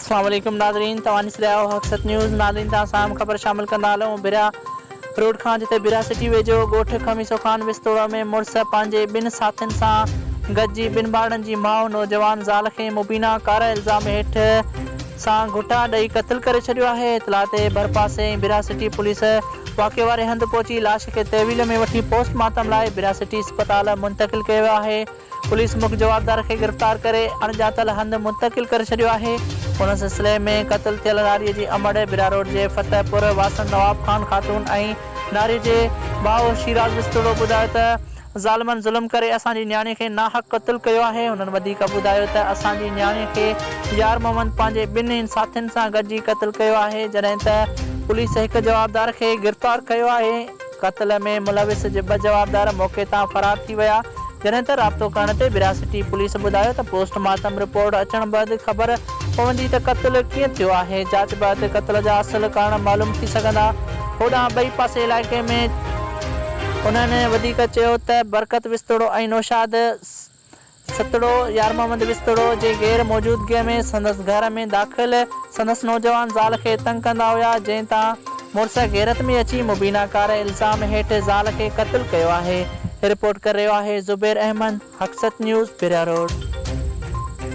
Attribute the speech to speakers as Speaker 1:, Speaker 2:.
Speaker 1: السلام عليڪم ناظرين توهان ڏسي رهيا آهيو حق سچ نيوز ناظرين توهان سان اهم خبر شامل ڪندا هلون بريا روڊ کان جتي بريا سٽي ويجهو ڳوٺ خميسو خان وستوڙ ۾ مڙس پنهنجي ٻن ساٿين سان گڏجي ٻن ٻارڙن جي ماء نوجوان زال کي مبينا ڪارا الزام هيٺ سان گهٽا ڏئي قتل ڪري ڇڏيو آهي اطلاع تي ڀرپاسي ۽ بريا سٽي پوليس واقعي واري هنڌ پهچي لاش کي تحويل ۾ وٺي پوسٽ مارٽم لاء بريا سٽي اسپتال منتقل ڪيو ويو آهي پوليس مک جوابدار کي گرفتار ڪري اڻڄاتل هنڌ منتقل ڪري ڇڏيو آهي. ان سلسلي ۾ قتل ٿيل ناري جي امڙ، براروڊ جي فتح پور واسڻ نواب خان خاتون ۽ ناري جي ڀاء شيراز وسطوڙو ٻڌايو ته ظالمن ظلم ڪري اسان جي نياڻي کي ناحق قتل ڪيو آهي. هنن وڌيڪ ٻڌايو ته اسان جي نياڻي کي يار محمد پنهنجي ٻن هن ساٿين سان گڏجي قتل ڪيو آهي جڏهن ته پوليس هڪ جوابدار کي گرفتار ڪيو آهي. قتل ۾ ملوث جي ٻه جوابدار موقعي تان فرار ٿي ويا، جڏهن ته رابطو ڪرڻ تي ورهاسٽي پوليس ٻڌايو ته پوسٽ مارٽم رپورٽ اچڻ بعد خبر پوندي ته قتل ڪيئن ٿيو آهي، جاچ بعد قتل جا اصل ڪارڻ معلوم ٿي سگهندا. هوڏانهن ٻئي پاسي علائقي ۾. انهن وڌيڪ چيو ته برڪت وسطڙو ۽ نوشاد. سھتڙو، يارمحمد وسطڙو جي غير موجودگيء ۾ سندس گهر ۾ داخل سندس نوجوان زال کي تنگ ڪندا هيا، جنهن تان مڙس غيرت ۾ اچي مبينا ڪاري الزام هيٺ زال کي قتل ڪيو آهي. رپورٽ ڪري رهيو آهي زبير احمد، حقسچ نيوز، پريا روڊ.